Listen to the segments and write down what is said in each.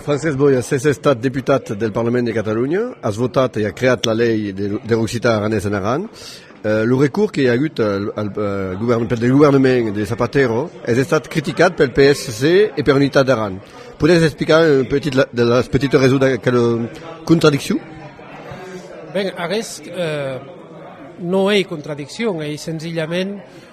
Francesc Boya s'es estat deputat del Parlament de Catalonha, as votat e a creat la lei der occitan aranés en Aran. Lo recurs que i a agut del governament de Zapatero es estat criticat pel PSC e per Unitat d'Aran. Podes explicar un petit las petites raisons d'aquela contradiccion? Ben aguest non ei contradiccion, ei senzillament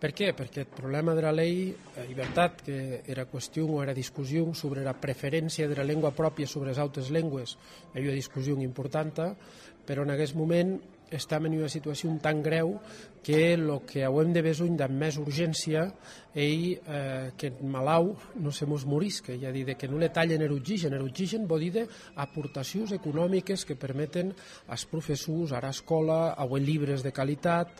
Per qué? Perque eth problèma dera lei ei vertat que era qüestion o era discussion sobre era preferéncia dera lengua pròpia sobre es autes lengües ei ua discussion importanta, però en aguest moment estam en ua situacion tan grèu que lo que auem de besonh damb mès urgéncia ei qu'eth malau non se mos morisque, ei a díder, que non le talhen er oxigèn, er oxigèn vò díder aportacions economiques que permeten as professors, ara escòla, auer libres de qualitat,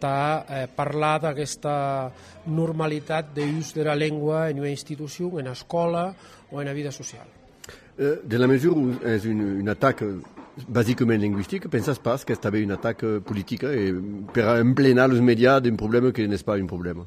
tà parlar d'aguesta normalitat de us dera lengua en ua institucion, ena escòla o ena vida sociala. Dins la mesura où es un atac basicament linguistic, pensas pas qu'es tanben un atac politic e pera emplenar los medias d'un problèma que n'es pas un problèma?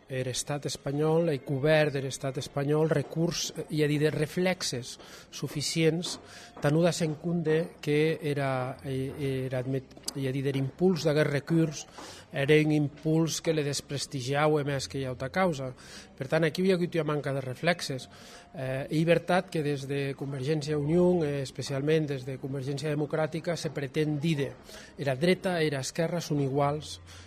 Er Estat espanhòl, eth govèrn der Estat espanhòl recurs i a díder reflèxes suficients tà non dar-se en compde que era, era, i a díder impuls d'aguest recurs ère un impuls que le desprestigiaue mès que ua auta causa. Per tant, aquiu i a agut ua manca de reflèxes. Ei vertat que des de Convergéncia i Union, e especialment des de Convergéncia Democràtica, se pretén díder era dreta e era esquèrra son iguals,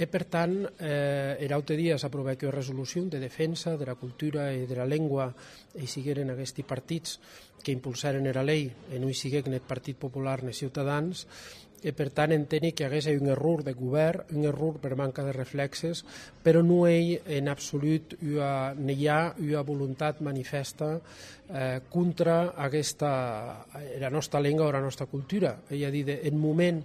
E per tant, er aute dia s'aprovèc ua resolucion de defensa dera cultura e dera lengua e i sigueren aguesti partits qu'impulsèren era lei e non i siguec ne eth Partit Popular ne Ciutadans e per tant enteni qu'aguest ei un error deth govèrn, un error per manca de reflèxes, però non ei en absolut ua, ne i a ua volontat manifèsta contra aguesta, era nòsta lenga o era nòsta cultura, ei a díder, en moment,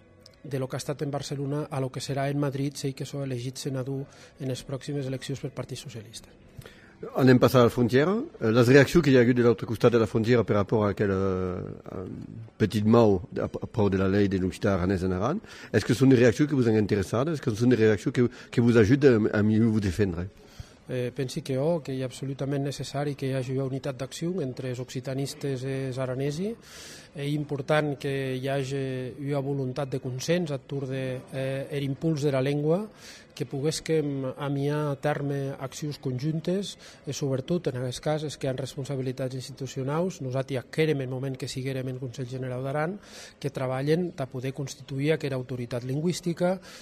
de lo qu'a estat en Barcelona a lo que serà en Madrid s'ei que sò elegit senador enes proximes eleccions pel Partit Socialista. Anem passar a la frontièra. Euh, las reaccions que i a agut de l'autre costat de la frontièra per rapport a aquel euh, petit mau a, a prou de la lei de l'occitan aranès en Aran, est-ce que son de reaccions que vos han interessat? Est-ce que son de reaccions que, que vos ajuden a, a mieux vos defendre? Pensi que ò, qu'ei absolutament necessari que i agi ua unitat d'accion entre es occitanistes e es aranesi. Ei important que i age ua volontat de consens ath torn de er impuls dera lengua, que poguesquem amiar a tèrme accions conjuntes e subretot, en aguest cas, es que an responsabilitats institucionaus, nosati ac hèrem en moment que siguérem en Conselh Generau d'Aran, que trabalhen tà poder constituir aquera autoritat lingüistica,